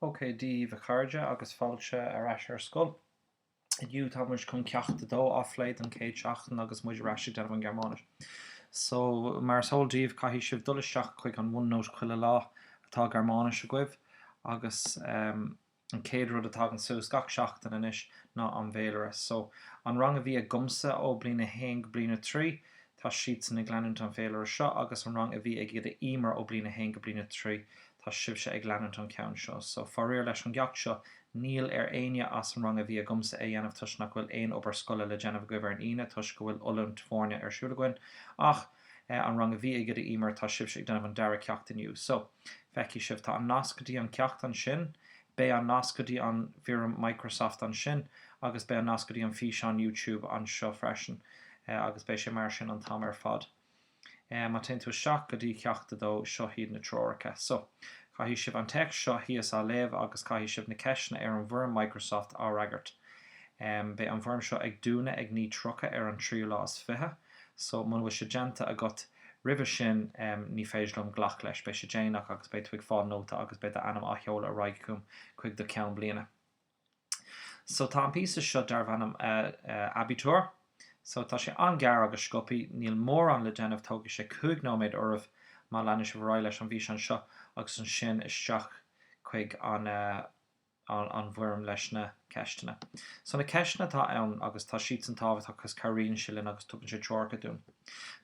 OK Dia daoibh a chairde agus fáilte ar ais ar scoil. Inniu tá muid chun ceacht 2 a phlé don chéad seachtain agus muid ar ais ag déanamh an Ghearmáinis. So, mar is eol daoibh caithfidh sibh dul isteach chuig an OneNote chuile lá atá Gearmáinis agaibh agus ehm, An chéad rud a tagann suas gach seachtain anois ná an bhféilire. So, an rang a bhí agamsa ó bliain a haon go bliain a trí, tá siadsan ag leanúint an féilire seo agus an rang a bhí ag Oide Emer ó bliain a haon go bliain a trí, tá sibhse ag leanúint an ceann seo. So, faraor leis an gceacht seo, níl ar éinne as an rang a bhí agamsa é dhéanamh toisc nach bhfuil aon obair scoile le déanamh agaibh ar an Aoine toisc go bhfuil oiliúint foirne ar siúl againn ach eh an rang a bhí ag Oide Emer tá sibhse ag déanamh an dara ceacht inniu so feicfidh sibh tá an nasc go dtí an ceacht ansin beidh an nasc go dtí an bhfoirm Microsoft ansin agus beidh an nasc go dtí an físeán YouTube anseo freisin eh agus beidh sé mar sin an t-am ar fad eh má téann tú isteach go dtí ceacht a dó seo hiad na treoracha so caithfidh sibh an téacs seo thíos a léamh agus caithfidh sibh na ceisteanna ar an bhfoirm Microsoft a fhreagairt em beidh an bhfoirm seo ag dúnadh ag 9:30 ar an tríú lá is fiche so muna bhfuil sé déanta agat roimhe sin em ní féidir liom glacadh leis beidh sé déanach agus beidh tú ag fáil nóta agus beidh do ainm á sheoladh ar aghaidh agam chuig do ceann bliana so tá an píosa seo darbh ainm eh eh Abitur so tá sé an-ghearr agus sciobtha níl mórán le déanamh tógfaidh sé cúig nóiméad oraibh má leanann sibh ar aghaidh leis an bhfíseán seo agus ansin isteach chuig an eh an bhfoirm leis na ceisteanna. So na ceisteanna atá ann agus tá siadsan tábhachtach agus cabhraíonn sé linn agus tugann sé treoracha dúinn.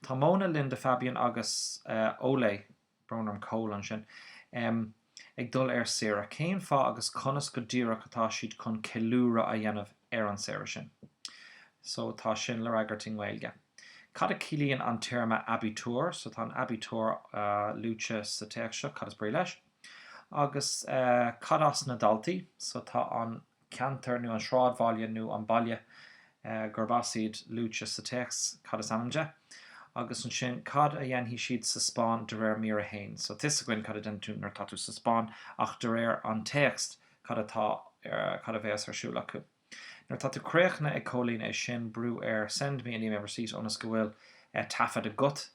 Tá Mona, Linda, Fabian agus Ole, brón orm Cole ansin, ag dul ar saoire. Cén fáth agus conas go díreach atá siad chun ceiliúradh a dhéanamh ar an saoire sin? So tá sin le fhreagairt i nGaeilge. Cad a chiallaíonn an téarma 'Abitur'? So tá an 'Abitur' luaite sa téacs seo, cad is brí leis? Agus cad as na daltaí? So tá an ceantar nó an sráidbhaile nó an baile gurb as iad luaite sa téacs, cad is ainm de? Agus ansin cad a dhéanfaidh siad sa Spáinn de réir mír 1? So tá a fhios againn cad a déanann tú nuair atá tú sa Spáinn ach de réir an téacs cad atá, cad a bhéas ar siúl acu? Nuair atá tú críochnaithe ag comhlánú é sin brú ar Send me an email receipt ionas go bhfuil taifead agat.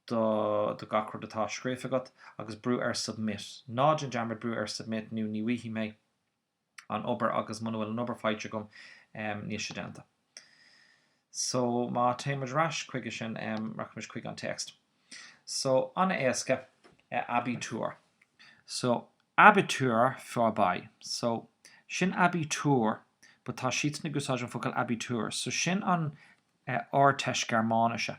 do do gach rud atá scríofa agat agus brú ar submit. Ná déan dearmad brú ar submit nó ní bhfaighidh mé an obair agus muna bhfuil an obair faighte agam níl sé déanta. So má téann muid ar ais chuige sin rachaidh muid chuig an téacs. So an-éasca Abitur. So Abitur vorbei. So sin Abitur but tá siadsan ag úsáid an focal Abitur so sin an Ardteist Gearmáinise.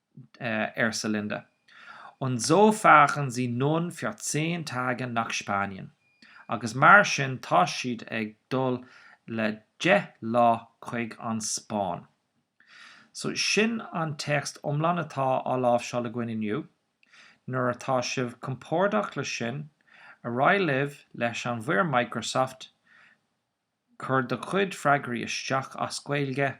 arsa Linda. Und so fahren sie nun für zehn Tage nach Spanien. Agus mar sin tá siad ag dul le deich lá chuig an Spáinn. So sin an téacs iomlán atá á láimhseáil againn inniu. Nuair atá sibh compordach leis sin, ar aghaidh libh leis an bhfoirm Microsoft, Cuir do chuid freagraí isteach as Gaeilge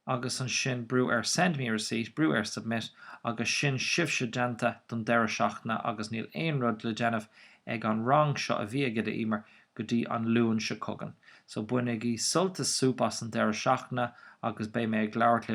agus ansin brú ar Send me a receipt, brú ar Submit agus sin sibhse déanta don deireadh seachtaine agus níl aon rud le déanamh ag an rang seo a bhí ag Oide Emer go dtí an Luan seo chugainn. So bainigí sult is súp as an deireadh seachtaine agus beidh mé ag labhairt libh